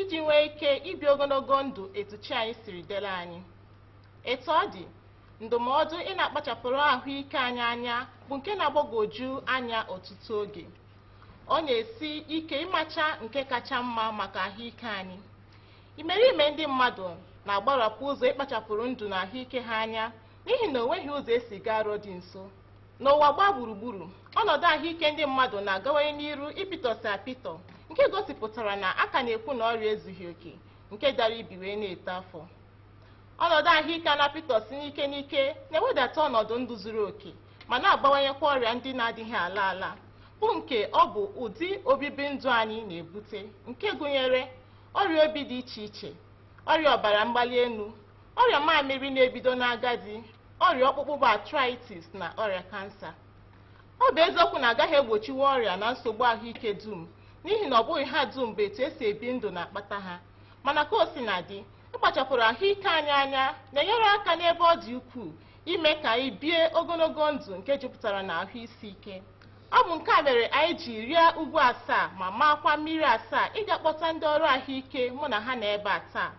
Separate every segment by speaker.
Speaker 1: iji nwee ike ibi ogologo ndụ etu chi anyị siri deere anyị etu ọ dị ndụmọdụ ị na-akpachapụrụ ahụike anyị anya bụ nke na-agbagwoju anya ọtụtụ oge ọ na-esi ike ịmacha nke kacha mma maka ahụike anyị imerime ndị mmadụ na-agbarapụ ụzọ ịkpachapụrụ ndụ na ahụike ha anya n'ihi na o nweghị ụzọ e si gaa Arọ dị nso N'ụwa gbaa gburugburu, ọnọdụ ahụike ndị mmadụ na-agawanye n'iru ịpịtọsị apịtọ nke gosipụtara na a ka na-ekwu na ọrịa ezughị oke nke dara ibi wee na-eto afọ. Ọnọdụ ahụike a na-apịtọsị n'ike n'ike na-ewedata ọnọdụ ndụ zuru oke ma na-abawanyekwa ọrịa ndị na-adịghị ala ala bụ nke ọ bụ ụdị obibi ndụ anyị na-ebute nke gụnyere ọrịa obi dị iche iche, ọrịa ọbara mgbali elu, ọrịa mamịrị na-ebido n'agadi, ọrịa ọkpụkpụ bụ arthritis na ọrịa kansa ọ bụ eziokwu na agaghị egbochinwu ọrịa na nsogbu ahụike dum n'ihi na ọ bụghị ha dum bụ etu esi ebi ndụ na-akpata ha mana ka o sina dị ịkpachapụrụ ahụike anyị anya na-enyere aka n'ebe ọ dị ukwuu ime ka anyị bie ogologo ndụ nke jupụtara na ahụ isi ike ọ bụ nke a mere anyị ji rịa ugwu asaa ma maakwa mmiri asaa ịga kpọta ndị ọrụ ahụike mụ na ha nọ ebe a taa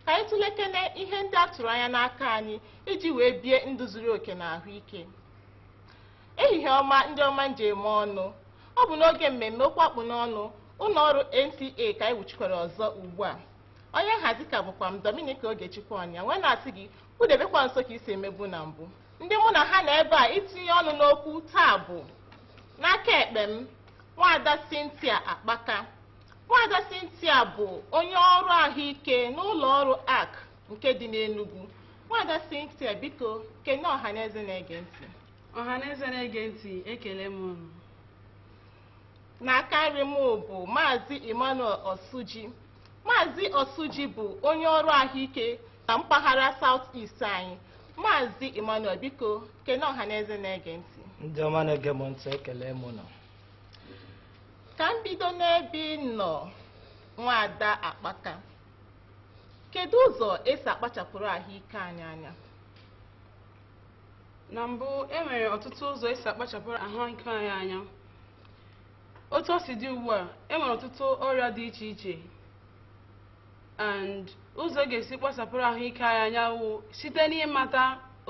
Speaker 1: ka anyị tụlekene ihe ndị a tụrụ anya n'aka anyị iji wee bie ndụ zuru oke na ahụike ehihie ọma ndị ọma m ji eme ọnụ ọ bụ n'oge mmemme okwu a kpụ n'ọnụ ụlọ ọrụ NTA ka anyị wuchikwara ọzọ ugbu a onye nhazi ka bụkwa m Dominica Ogechukwu Onyia wee na-asị gị kwudebekwa nso ka i si emebu na mbụ ndị mụ na ha nọ ebe a itinye ọnụ n'okwu taa bụ n'aka ekpe m nwaada Cynthia Akpaka nwaada Cynthia bụ onye ọrụ ahụike n'ụlọ ọrụ arc nke dị n'Enugu nwaada Cynthia biko kene ọhaneze na-ege ntị ọhaneze
Speaker 2: na-ege ntị ekele m unu n'aka
Speaker 1: nri m bụ maazị Emmanuel Osuji maazị Osuji bụ onye ọrụ ahụike na mpaghara South East anyị maazị Emmanuel biko kene ọhaneze na-ege ntị ndị ọma na-ege m
Speaker 3: ntị ekele m unu
Speaker 1: ka m bido n'ebe ị nọ nwaada akpaka Kedu ụzọ esi akpachapụrụ ahụike anyị
Speaker 2: anya? Na mbụ, e nwere ọtụtụ ụzọ esi akpachapụrụ ahụike anyị anya. Otu o si dị ugbu a, e nwere ọtụtụ ọrịa dị iche iche and ụzọ a ga-esi kpachapụrụ ahụike anyị anya wụ site n'ịmata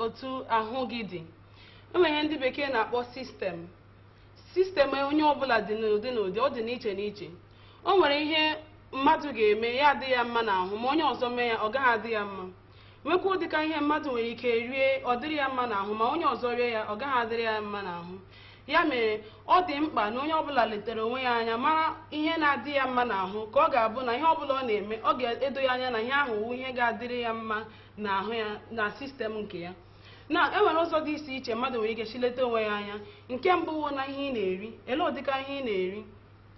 Speaker 2: otu ahụ gị dị. E nwere ihe ndị bekee na-akpọ system. sistem onye ọbụla dị n'ụdị n'ụdị ọ dị n'iche n'iche o nwere ihe mmadụ ga-eme ya adị ya mma n'ahụ ma onye ọzọ mee ya ọ gaghị adị ya mma nwekwa ụdịka ihe mmadụ nwere ike rie ọ dịrị ya mma n'ahụ ma onye ọzọ rie ya ọ gaghị adịrị ya mma n'ahụ ya mere ọ dị mkpa na onye ọbụla letere onwe ya anya mara ihe na-adị ya mma n'ahụ ka ọ ga-abụ na ihe ọbụla ọ na-eme ọ ga-edo ya anya na ihe ahụ wụ ihe ga-adịrị ya mma n'ahụ ya na sistem nke ya na e nwere ụzọ dị iche iche mmadụ nwere ike shi leta onwe ya anya nke mbụ wụ na ihe ị na-eri ele ụdịka ihe ị na-eri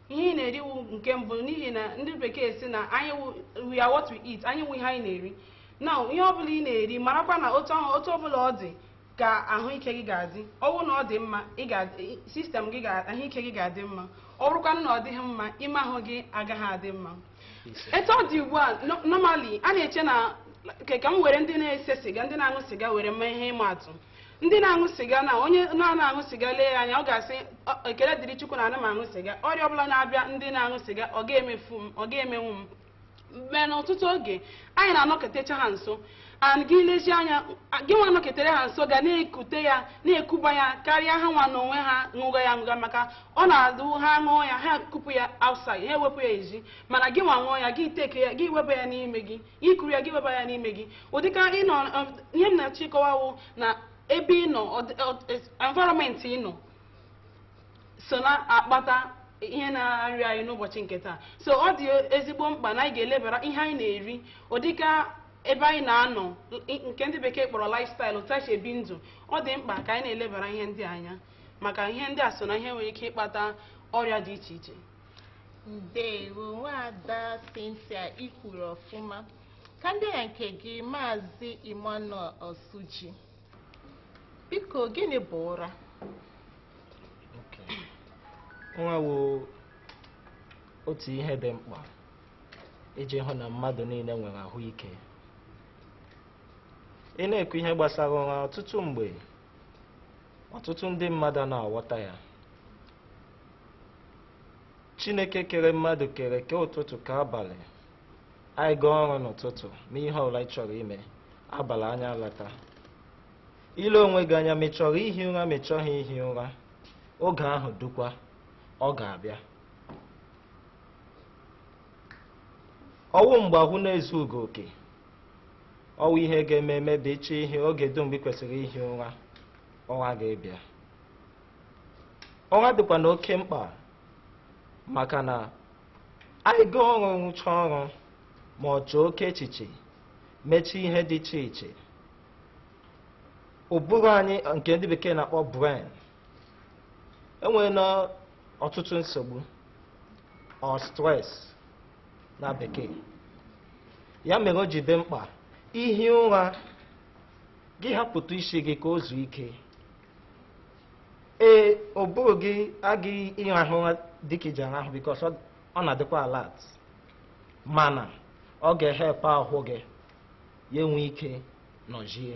Speaker 2: ihe ị na-eri wụ nke mbụ n'ihi na ndị bekee sị na anyị wụ- we are what we eat anyị wụ ihe anyị na-eri na ihe ọbụla ị na-eri marakwa na otu ahụ otu ọbụla ọ dị ka ahụike gị ga-adị ọ bụrụ na ọ dị mma ị ga sistem gị ga- ahụike gị ga-adị mma ọ bụrụkwanụ na ọ dịghị mma ime ahụ gị agaghị adị mma etu ọ dị ugbu a no- normally a na-eche na ke ka m were ndị na-ese siga ndị na-aṅụ siga were mee ihe ịma atụ ndị na-aṅụ siga na onye na-ana aṅụ siga lee ya anya ọ ga-asị "Ọ- ekele dịrị chukwu na ana m aṅụ siga ọrịa ọbụla na-abịa ndị na-aṅụ siga ọ ga-emefu m ọ ga-emenwu m mana ọtụtụ oge anyị na-anọketecha ha nso and gị lezie anya gị nwa nọketere ha nso ga na-ekute ya na-ekuba ya karịa ha nwa n'onwe ha ṅụga ya ṅụga maka ọ na-adụ ha ṅụọ ya ha kupụ ya outside ha ewepụ ya ezi mana gị nwa ṅụọ ya gị take ya gị weba ya n'ime gị i kuru ya gị weba ya n'ime gị ụdịka ịnọ um, ihe m na-achọ ịkọwa wụ na ebe ị nọ environment ị nọ so na-akpata ihe na-arịa anyị n'ụbọchị nke taa so ọ dị ezigbo mkpa na anyị ga-elebara ihe anyị na-eri ụdịka ebe anyị na-anọ nke ndị bekee kpọrọ lifestyle otu e si ebi ndụ ọ dị mkpa ka anyị na-elebara ihe ndị a anya maka ihe ndị a so na ihe nwere ike ịkpata ọrịa dị iche iche ndewo
Speaker 1: nwada Cynthia i kwuru ọfụma ka m bịa nke gị maazị Emmanuel Osuji biko gịnị bụ
Speaker 3: ụra ụra wụ otu ihe dị mkpa iji hụ na mmadụ niile nwere ahụike ị na-ekwu ihe gbasara ụra ọtụtụ mgbe ọtụtụ ndị mmadụ ana aghọta ya chineke kere mmadụ kere kee ụtụtụ kee abalị anyị gaa ọrụ n'ụtụtụ mee ihe ọbụla ị chọrọ ime abalị anyị alata i lee onwe gị anya ma ị chọrọ ihi ụra ma ị chọghị ihi ụra oge ahụ rukwa ọ ga-abịa ọ wụ mgbe ahụ na-ezu ike oke ọ wụ ihe ga-eme eme ị chọọ ihi oge ruo mgbe ị kwesịrị ihi ụra ụra ga-abịa ụra dịkwa na oke mkpa maka na anyị gaa ọrụ rụchaa ọrụ ma ọ chee oke echiche mechaa ihe dị iche iche ụbụrụ anyị nke ndị bekee na-akpọ brain enwere na ọtụtụ nsogbu or stress na bekee ya mere o ji dị mkpa ihi ụra gị hapụtụ isi gị ka o zuo ike ee ụbụrụ gị agaghị ịrahụ ụra dịka i ji arahụ because ọ na-adịkwa alert mana ọ ga-ehelp ahụ gị ya enwe ike nọjie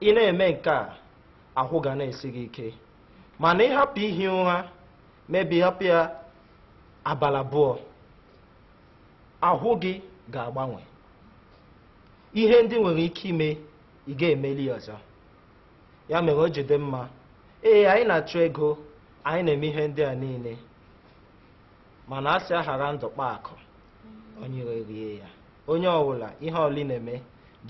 Speaker 3: ị na-eme nke a ahụ ga na-esi gị ike mana ị hapụ ihi ụra maybe ị hapụ ya abalị abụọ ahụ gị ga-agbanwe ihe ndị i nwere ike ime ị ga-emeli ọzọ ya mere o ji dị mma ee anyị na-achụ ego anyị na-eme ihe ndị a niile mana a sị aghara ndụ kpa akụ onye ire rie ya Onye ọwụla ihe ọwụla ị na-eme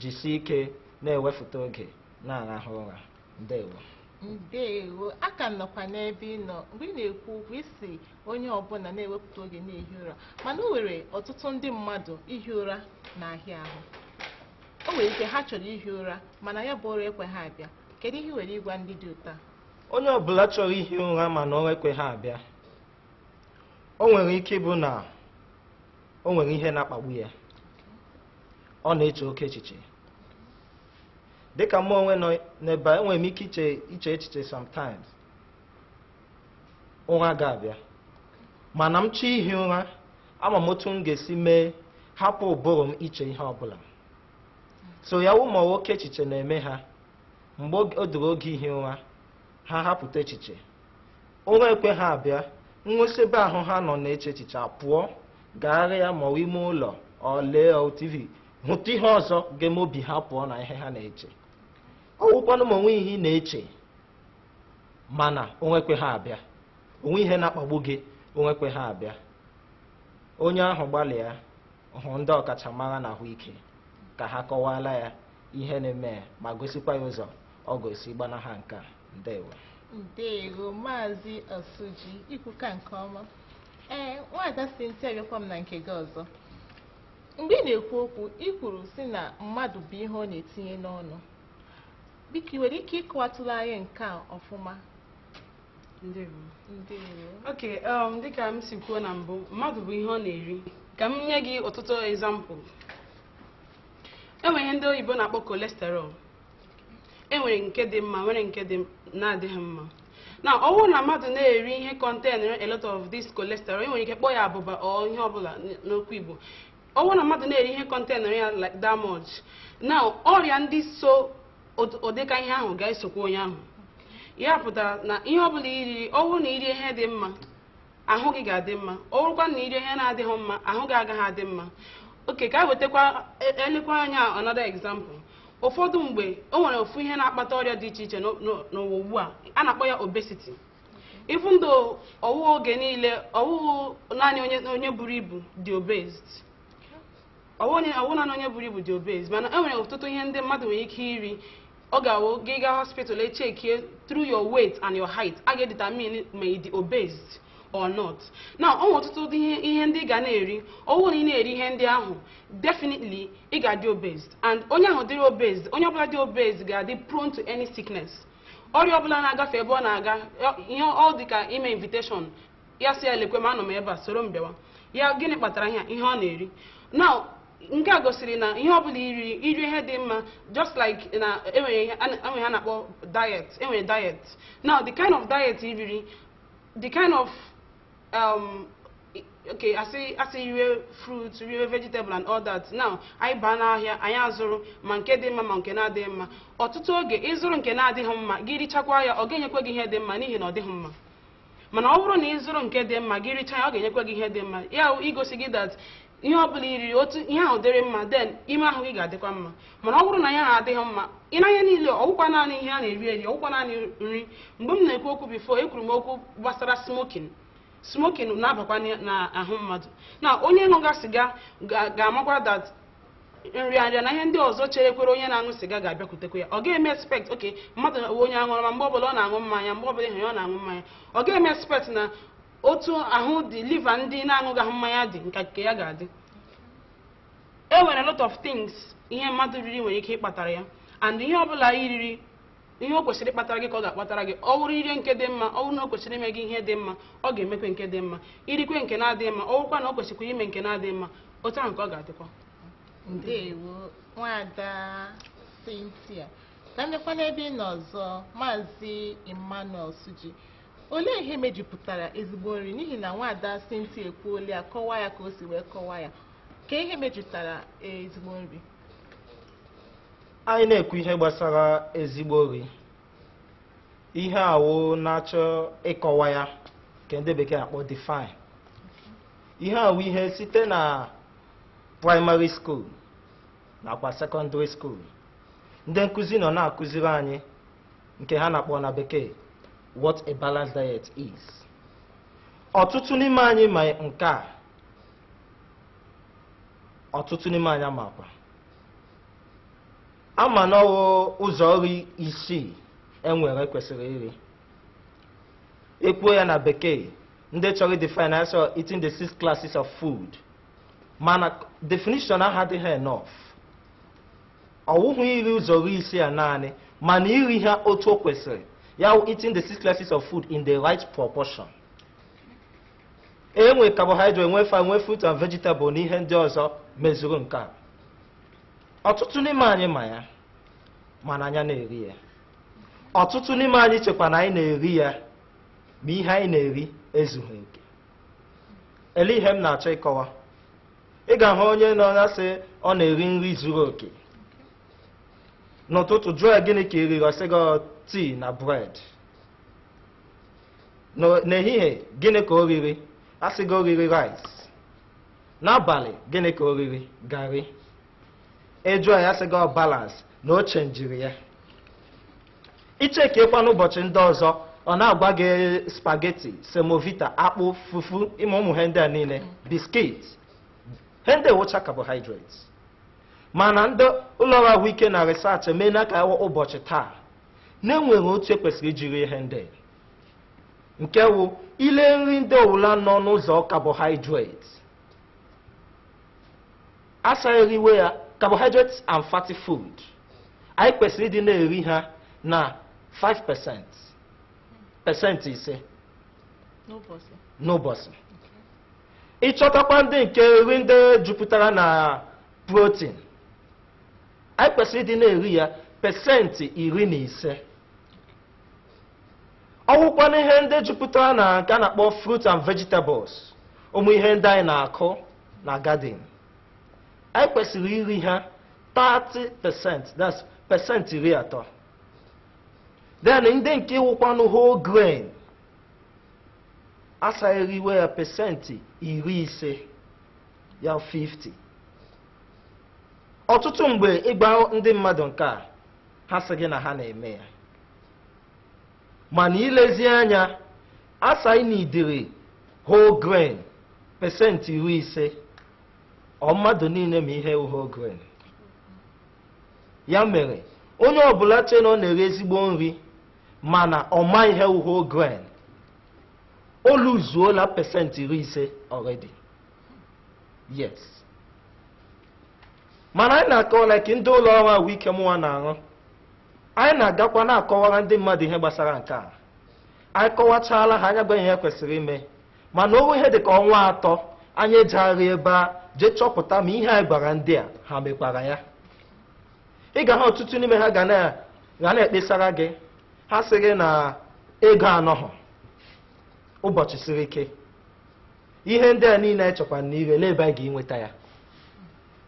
Speaker 3: jisie ike na-ewefụta oge na-arahụ ụra. Ndewo. Ndewo.
Speaker 1: A ka m nọkwa n'ebe ị nọ mgbe ị na-ekwu okwu ị sị onye ọbụla na-ewepụta oge na-ehi ụra mana o nwere ọtụtụ ndị mmadụ ihi ụra na-ahịa ahụ o nwere ike ha chọrọ ihi ụra mana ya bụ ụra ekweghị abịa kedu ihe ị nwere ịgwa ndị dị otu a onye ọbụla
Speaker 3: chọrọ ihi ụra mana ụra ekweghị abịa o nwere ike ịbụ na o nwere ihe na-akpagbu ya ọ na-eche oke echiche dịka mụ onwe nọ n'ebe a enwere m ike iche iche echiche sometimes ụra ga-abịa mana m chọọ ihi ụra ama m otu m ga-esi mee hapụ ụbụrụ m iche ihe ọbụla so ya wụ ma oke echiche na-eme ha mgbe o ruru oge ihi ụra ha hapụtụ echiche Ụra ekweghị abịa, ha si ebe ahụ ha nọ na-eche echiche pụọ gagharịa ma ọ wụ ime ụlọ or lee TV hụtụ ihe ọzọ ga-eme obi ha pụọ na ihe ha na-eche ọ wụkwanụ ma o nweghị ihe ị na-eche mana ụra ekweghị abịa o nweghị ihe na-akpagbu gị ụra ekweghị abịa onye ahụ gbalịa hụ ndị ọkachamara na ahụike ka ha kọwaala ya ihe na-eme ya ma gosikwa ya ụzọ ọ ga-esi gbanaha nke a ndewo
Speaker 1: ndewo maazị Osuji i kwuka nke ọma ee nwaada Cynthia abịakwa m na nke gị ọzọ mgbe ị na-ekwu okwu i kwuru sị na mmadụ bụ ihe ọ na-etinye n'ọnụ biko ị nwere ike ịkọwatụla anyị nke a
Speaker 2: ọfụma ndewo
Speaker 1: ndewo ok um, dịka
Speaker 2: m si kwuo na mbụ mmadụ bụ ihe ọ na-eri ka m nye gị ọtụtụ example e nwere ihe ndị oyibo na-akpọ cholesterol e nwere nke dị mma nwere nke dị na-adịghị mma now ọ bụrụ na mmadụ na-eri ihe contain a lot of this cholesterol e nwere ike kpọọ ya abụba or ihe ọbụla n'okwu Igbo ọ bụrụ na mmadụ na-eri ihe contain ya like that much now ọrịa ndị so ụd- ụdịka ihe ahụ ga-esokwa onye ahụ ya pụtara na ihe ọbụla i riri ọ bụrụ na i rie ihe dị mma ahụ gị ga-adị mma ọ bụrụkwa na i rie ihe na-adịghị mma ahụ gị agaghị adị mma okay ka anyị wetakwa e- elekwa anya another example ụfọdụ mgbe o nwere ofu ihe na-akpata ọrịa dị iche iche n'o- n'o- n'ụwa ugbu a a na-akpọ ya obesity even though ọwụghị oge niile ọwụghị naanị onye onye buru ibu dị obese ọwụghị naanị onye buru ibu dị obese mana e nwere ọtụtụ ihe ndị mmadụ nwere ike iri ọ ga-awụ gị gaa hospital e checkie through your weight and your height a ga-edetermine ma ị dị obese or not now o nwere ọtụtụ ihe ndị ị ga na-eri ọwụ na ị na-eri ihe ndị ahụ definitely ị ga-adị obese and onye ahụ dịrị obese onye ọbụla dị obese ga-adị prone to any sickness ọrịa ọbụla na-agafe ebe ọ na-aga ihe ọ dị ka ime invitation ya sị ya lekwe m anọ m ebe a soro m bịawa ya gịnị kpatara ihe a? ihe ọ na-eri now nke a gosiri na ihe ọbụla i riri i rie ihe dị mma just like na enwere ihe a na- enwere ihe a na-akpọ diet enwere diet now the kind of diet i riri the kind of um, i- okay a sị a sị riwe fruit riwe vegetable and all that now anyị baa n'ahịa anyị azụrụ ma nke dị mma ma nke na-adịghị mma ọtụtụ oge ị zụrụ nke na-adịghị mma gị richakwa ya ọ ga-enyekwa gị ihe dị mma n'ihi na ọ dịghị mma mana ọ bụrụ na ị zụrụ nke dị mma gị richaa ya ọ ga-enyekwa gị ihe dị mma ya wụ igosi gị that ihe ọ bụla i riri otu ihe ahụ dịrị mma then ime ahụ gị ga-adịkwa mma mana ọ bụrụ na ya adịghị mma ị na ihe niile ọwụkwa naanị ihe a na-eri eri ọwụkwa naanị nri mgbe m na-ekwu okwu before ekwuru m okwu gbasara smoking smoking na-abakwa n'ahụ mmadụ now onye ṅụga siga ga- ga-amakwa that nrịanrịa na ihe ndị ọzọ cherekwara onye na-aṅụ siga ga-abịakwutekwa ya ọ ga-eme expect okay mmadụ onye aṅụrụma mgbe ọbụla ọ na-aṅụ mmanya mgbe ọbụla ị hụ ya ọ na-aṅụ mmanya ọ ga-eme expect na otu ahụ the liver ndị na-aṅụghị mmanya dị ka nke ya ga-adị e nwere a lot of things ihe mmadụ riri nwere ike ịkpatara ya and ihe ọbụla i riri ihe o kwesịrị ịkpatara gị ka ọ ga-akpatara gị ọ wụrụ i rie nke dị mma ọ wụrụ na o kwesịrị ime gị ihe dị mma ọ ga-emekwe nke dị mma i rikwe nke na-adịghị mma ọ wụrụkwa na o kwesịkwara ime nke na-adịghị mma otu ahụ ka ọ ga-adịkwa ndewo
Speaker 1: nwada Cynthia ka m jekwa n'ebe ị nọ ọzọ maazị Emmanuel Osuji olee ihe mejupụtara ezigbo nri n'ihi na nwada Cynthia ekwuola ya kọwaa ya ka o si wee kọwaa ya ka ihe mejupụtara ezigbo nri
Speaker 3: anyị na-ekwu ihe gbasara ezigbo ori ihe a wụ na-achọ ịkọwa ya nke ndị bekee na-akpọ define ihe a wụ ihe site na primary school nakwa secondary school ndị nkụzi nọ na-akụziri anyị nke ha na-akpọ na bekee what a balanced diet is ọtụtụ n'ime anyị ma nke a ọtụtụ n'ime anyị amakwa ama na ọwụ ụzọ ori isii e nwere e kwesịrị iri ekwuo ya na bekee ndị chọrọ define a sị ọ eating the six classes of food mana definition ahụ adịghị enough ọwụhụ iri ụzọ ori isii a naanị mana iri ha otu o kwesịrị ya wụ eating the six classes of food in the right proportion e nwee carbohydrate nwee fat nwee fruit and vegetable na ihe ndị ọzọ mezuru nke a ọtụtụ n'ime anyị ma ya mana anyị ana-eri ya ọtụtụ n'ime anyị chekwa na anyị na-eri ya ma ihe anyị na-eri ezughị oke ele ihe m na-achọ ịkọwa ị ga-ahụ onye nọ na-asị ọ na-eri nri zuru oke n'ụtụtụ jụọ ya gịnị ka ị riri ọ sị gị tea na bread N'o- n'ehihie gịnị ka o riri a sị gị o riri rice n'abalị gịnị ka o riri garị ejụọ ya sị gị ọ balance na o chenjiri ya ichekekwa n'ụbọchị ndị ọzọ ọ na-agwa gị spaghetti semovita akpụ fufu ịma ụmụ ihe ndị a niile biskit ihe ndị wụcha carbohydrates mana ndị ụlọọrụ ahụike na research emeela ka ụbọchị taa na e nwere otu e kwesịrị iji ri ihe ndị nke wụ i lee nri ndị ọwụla nọ n'ụzọ carbohydrates a sị eriwe ya carbohydrates and fatty food anyị kwesịrị ịdị na-eri ha na 5% pesenti ise n'ụbọchị ịchọtakwa ndị nke nri ndị jupụtara na protein anyị kwesịrị ịdị na-eri ya pesentị iri na ise ọ wụkwanụ ihe ndị jupụtara na nke a na-akpọ fruit and vegetables ụmụ ihe ndị anyị na-akụ na garden anyị kwesịrị iri ha 30 percent that's percent iri atọ then ndị nke wụkwanụ whole grain a sị eriwe ya pesenti iri ise ya 50 ọtụtụ mgbe ịgwa ndị mmadụ nke a ha sị gị na ha na-eme ya mana ilezi anya a sị na idiri whole grain pesenti iri ise ọ mmadụ niile ma ihe wụ whole grain ya mere onye ọbụla che na ọ na-eri ezigbo nri mana ọ ma ihe wụ whole grain o luzuola pesenti iri ise already yes mana anyị na-akọwa like ndị ụlọ ọrụ ahụike mụnwa na-arụ anyị na-agakwa na-akọwara ndị mmadụ ihe gbasara nke a anyị kọwachaala ha anyị agwa ihe kwesịrị ime mana o ruo ihe dị ka ọnwa atọ anyị ejegharị ebe a jee chọpụta ma ihe anyị gwara ndị a ha mekwara ya ị ga ha ọtụtụ n'ime ha ga na-ekpesara gị ha sị gị na ego anọghọ ụbọchị siri ike ihe ndị a niile echekwa na ire n'ebe a ga-enweta ya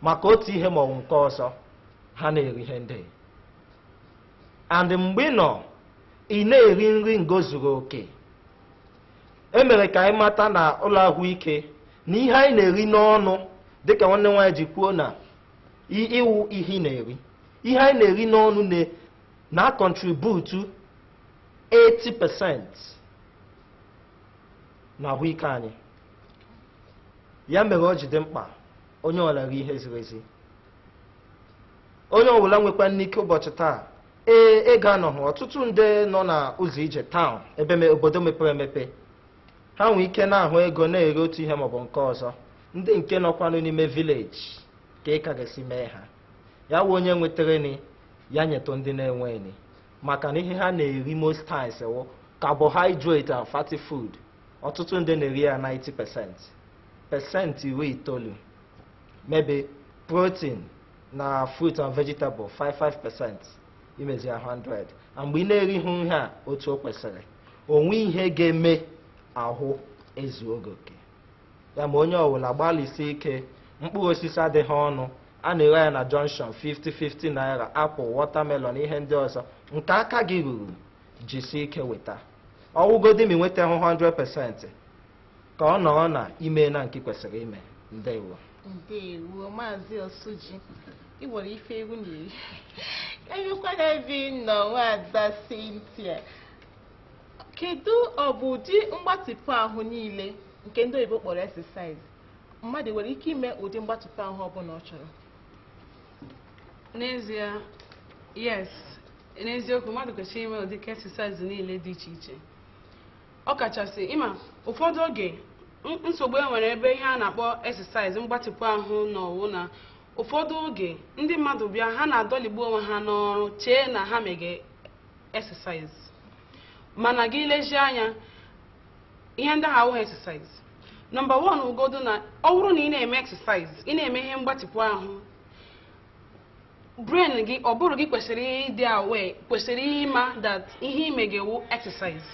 Speaker 3: maka otu ihe ma ọ bụ nke ọzọ ha na-eri ihe ndị and mgbe ị nọ ị na-eri nri ngo zuru oke e mere ka anyị mata na ụlọ ahụike na ihe anyị na-eri n'ọnụ dịka nwanne nwaanyị ji kwuo na ị wụ ihe ị na-eri ihe anyị na-eri n'ọnụ na-akọntributu 80% na ahụike anyị ya mere ọ ji dị mkpa onye ọbụla rie ihe ziri ezi onye ọbụla nwekwanụ ike ụbọchị taa ee ego anọhụ ọtụtụ ndị nọ na ụzọ ije town ebe me- obodo mepere emepe ha nwee ike na-ahụ ego na-eri otu ihe maọbụ nke ọzọ ndị nke nọkwanụ n'ime village kee ka a ga-esi mee ha ya wụ onye nwetara ni ya nyetụ ndị na-enwe ni maka na ihe ha na-eri most times wụ carbohydrate and fatty food ọtụtụ ndị na-eri ya 90 percent pesenti iri itoolu maybe protein na fruit and vegetable 5 5 percent imezi ya 100 and mgbe ị na-erighị ihe a otu o kwesịrị o nwe ihe ga-eme ahụ ezuo gị oke ya ma onye ọbụla gbalịsie ike mkpụrụ osisi adịghị ọnụ a na-ere ya na junction 50 50 naira apple watermelon ihe ndị ọzọ nke aka gị ruru jisi ike weta ọ wụgodi ma i nwetahụ 100% ka ọ nọrọ na i meena nke kwesịrị ime ndewo
Speaker 1: ndewo maazị osuji ị nwere ife egwu na-eri enyekwana ebe ị nọ nwaada Cynthia kedu ọ bụ ụdị mgbatịpụ ahụ niile nke ndị oyibo kpọrọ exercise mmadụ nwere ike ime ụdị mgbatịpụ ahụ ọbụla ọ chọrọ n'ezie
Speaker 2: yes n'eziokwu mmadụ kwesịrị ime ụdị exercise niile dị iche iche ọ kachasị ịma ụfọdụ oge nsogbu e nwere ebe ihe a na-akpọ exercise mgbatịpụ ahụ na ọwụ na ụfọdụ oge ndị mmadụ bịa ha na-adọligbu onwe ha n'ọrụ chee na ha mege exercise mana gị lezie anya ihe ndị ahụ awụghị exercise nọmba wan wụgodu na ọ bụrụ na ị na-eme exercise ị na-eme ihe mgbatịpụ ahụ brain gị ụbụrụ gị kwesịrị ịdị aware kwesịrị ịma that ihe ị mega wụ exercise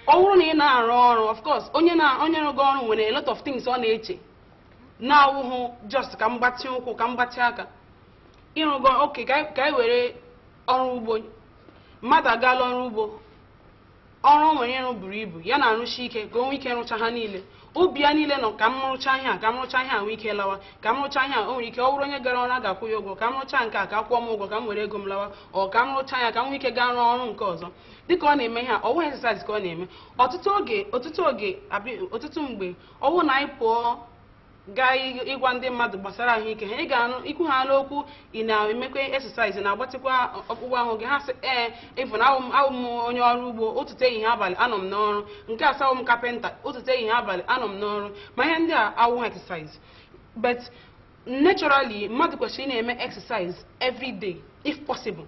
Speaker 2: ọ bụrụ na ị na-arụ ọrụ of course onye na onye rụgo ọrụ nwere a lot of things ọ na-eche na-awụhụ just ka m gbatị ụkwụ ka m gbatị aka ịrụgo okay ka anyị were ọrụ ugbo mmadụ agaala ọrụ ugbo ọrụ o nwere ịrụ buru ibu ya na-arụsi ike ka o nwee ike rụcha ha niile obi ya niile nọ ka m rụcha ihe a ka m rụcha ihe a nwee ike lawa ka m rụcha ihe a o nwere ike ọ bụrụ onye gara ọrụ a ga-akwụ ya ụgwọ ka m rụcha nke a ka a kwụọ m ụgwọ ka m were ego m lawa ọ ka m rụcha ya ka m nwee ike gaa rụọ ọrụ nke ọzọ dịka ọ na-eme ihe a ọwụ exercise ka ọ na-eme ọtụtụ oge ọtụtụ oge abi- ọtụtụ mgbe ọwụ na anyị pụọ gaa ị- ịgwa ndị mmadụ gbasara ahụike ha ị ga-anụ ikwu ha n'okwu ị na-emekwa exercise na-agbatịkwa ọkpụkpụ ahụ gị ha sị ee ịfụ na awụ m- awụ m onye ọrụ ugbo ụtụtụ ehihie abalị anọ m n'ọrụ nke a sị awụ m kapịnta ụtụtụ ehihie abalị anọ m n'ọrụ ma ihe ndị a awụhụ exercise but naturally mmadụ kwesịrị ịna-eme exercise every day if possible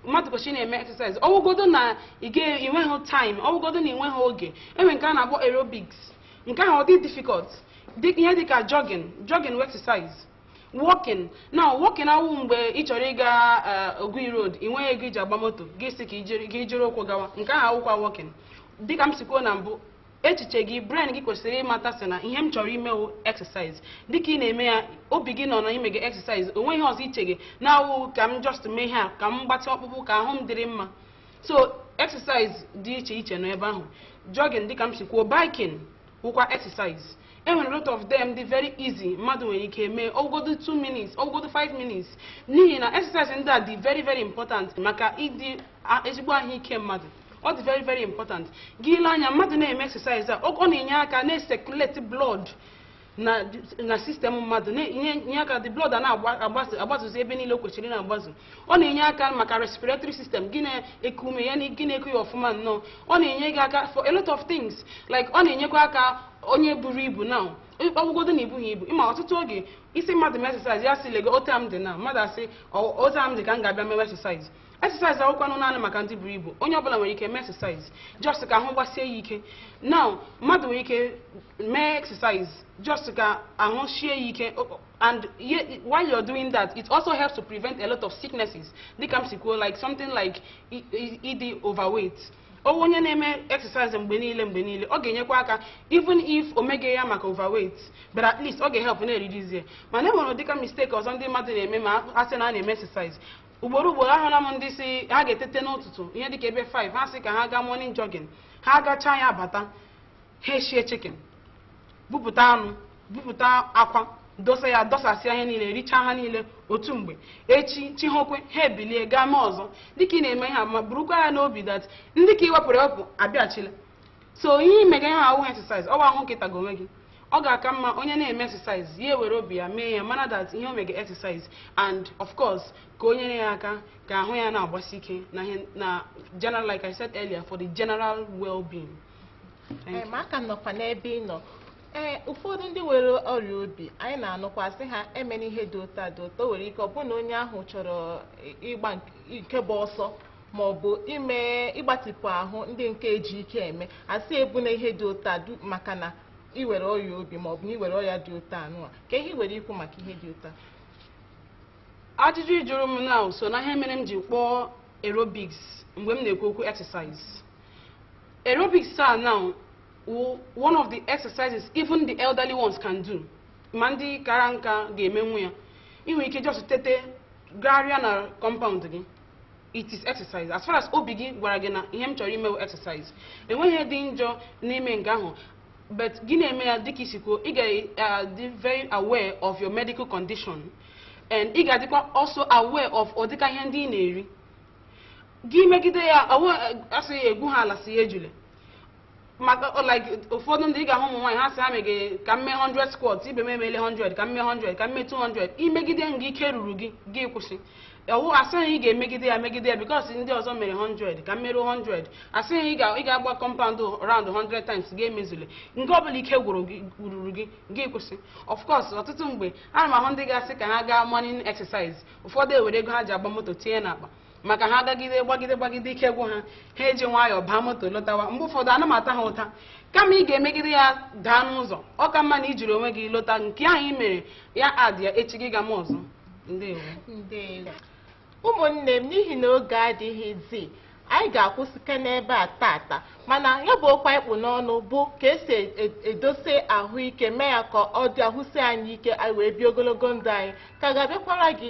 Speaker 2: mmadụ kwesịrị na-eme exercise ọwụgodo na ịnweghị time ọwụgodo na ịnweghị oge e nwe nke a na-akpọ aerobics nke ahụ ọ dị difficult ihe dịka jogging jogging wụ exercise walking now walking awụ mgbe ị chọrọ ịga eh, Ogui road ị nweghị ego iji agba moto gị sị ka i jiri- ka i jiri ụkwụ gawa nke ahụ awụkwa walking dịka m si kwuo na mbụ echiche gị brain gị kwesịrị ịmata sị na ihe m chọrọ ime wụ exercise dịka ị na-eme ya obi gị nọ na i mege exercise o nweghị ihe ọzọ i chege na-awụghị ka m just mee ihe a ka m gbatị ọkpụkpụ ka ahụ m dịrị mma so exercise dị iche iche nọ ebe ahụ jogging dịka m si kwuo biking wụkwa exercise e nwere a lot of them dị very easy mmadụ nwere ike mee ọwụgodo 2 minutes ọwụgodo 5 minutes n'ihi na exercise ndị a dị very very important maka ịdị a- ezigbo ahụike mmadụ ọ dị very very important gị lee anya mmadụ na-eme exercise a ọ na-enye aka na-ecirculate blood na system mmadụ na-enye aka the blood a na-agbazuzi ebe niile o kwesịrị na-agbazu ọ na-enye aka maka respiratory system gị na-eku ume ya na gị na-eku ya ọfụma nnọọ ọ na-enye gị aka for a lot of things like ọ na-enyekwa aka onye buru ibu na ọwụgodo na i bughị ibu ị ma ọtụtụ oge ị sị mmadụ mee exercise ya sị lego otu a m dị na mmadụ asị otu a m dị ka m ga-abịa mewe exercise exercise awụkwanụ naanị maka ndị buru ibu onye ọbụla nwere ike mee exercise just ka ahụ gbasie ya ike now mmadụ nwere ike mee exercise just ka ahụ sie ya ike O- o- and ye- while you're doing that it also helps to prevent a lot of sicknesses dịka m si kwuo like something like i- i- ịdị overweight ọwụ onye na-eme exercise mgbe niile mgbe niile ọ ga-enyekwa aka even if o meghị ya maka overweight but at least ọ ga-ehelp na-ereduce ya mana e nwere ụdịka mistake ọzọ ndị mmadụ na-eme ma a sị na a na-eme exercise ugboro ugboro ahụla m ndị sị ha ga-etete n'ụtụtụ ihe dịka ebe 5 ha sị ka ha gaa morning jogging ha gachaa ya bata ha eshie chicken bupụta anụ bupụta akwa dosasịa ihe niile richaa ha niile otu mgbe echi chi hokwe ha ebilie gaa mee ọzọ dịka ị na-eme ihe a ma burukwa ya n'obi that ndị ka ị wepụrụ ewepụ abịachila so ihe ị mega ihe a awụghị exercise ọ bụ ahụhụ ka ị taga onwe gị ọ ga-aka mma onye na-eme exercise ya ewere obi ya mee ya mara that ihe o mega exercise and of course ka o nyere ya aka ka ahụ ya na-agbasi ike na ihe na general like I said earlier for the general well-being
Speaker 1: Ee, ma a ka nọkwa n'ebe ị nọ ee ụfọdụ ndị nwere ọrịa obi anyị na-anụkwa sị ha emena ihe dị otu a dị otu o nwere ike ọ bụrụ na onye ahụ chọrọ ịgba nke- nke bụ ọsọ ma ọ bụ ime ịgbatịpụ ahụ ndị nke e ji ike eme a sị ebuna ihe dị otu a du- maka na i nwere ọrịa obi ma ọ bụ na i nwere ọrịa dị otu a nụwa kee ihe i nwere ikwu maka ihe dị otu a ajụjụ
Speaker 2: ị jụrụ m now so n'ihe mere m ji kpọọ aerobics mgbe m na-ekwu okwu exercise aerobics a now wụ one of the exercises even the elderly ones can do ma ndị kara nka ga-emenwu ya ị nwere ike just tete gagharịa na compound gị it is exercise as far as obi gị gwara gị na ihe m chọrọ ime bụ exercise enweghị ihe dị njọ n'ime nke ahụ but gị na-eme ya dịka i si kwuo ị ga-adị very aware of your medical condition and ị ga-adịkwa also aware of ụdịka ihe ndị ị na-eri gị megide ya awụ a sị ya egwu ha ala si ya ejule maka ọ, like ụfọdụ ndị ị ga-ahụ ụmụ nwaanyị ha sị ha meghe ka m mee 100 squat ibe m emele 100 ka m mee 100 ka m mee 200 i megide nga ike ruru gị gị kwụsị ọwụ a sịghị ị ga-emegide ya megide ya because ndị ọzọ mere 100 ka m meruo 100 a sịghị ị ga- ị ga-agba compound round 100 times ga-emezule nke ọbụla ike ruru gị gị kwụsị of course ọtụtụ mgbe ana m ahụ ndị ga-asị ka ha gaa morning exercise ụfọdụ ewere ego ha ji agba moto tinye n'akpa maka ha gagide gbagide gbagide ike gwụ ha ha eji nwayọọ baa moto lọtawa mgbe ụfọdụ ana m ata ha ụta kama ị ga-emegide ya daa n'ụzọ ọ ka mma na i jiri onwe gị lọta nke ahụ ị mere ya adị ya echi gị gama ọzọ ndewo ndewo
Speaker 1: ụmụnne m n'ihi na oge adịghịzi anyị ga-akwụsịke n'ebe a tata mana ya bụ okwu anyị kpụ n'ọnụ bụ ka e si e- e- edosa ahụike mee ya ka ọ dị ahụ sie anyị ike anyị wee bie ogologo ndụ anyị ka ga-abịakwara gị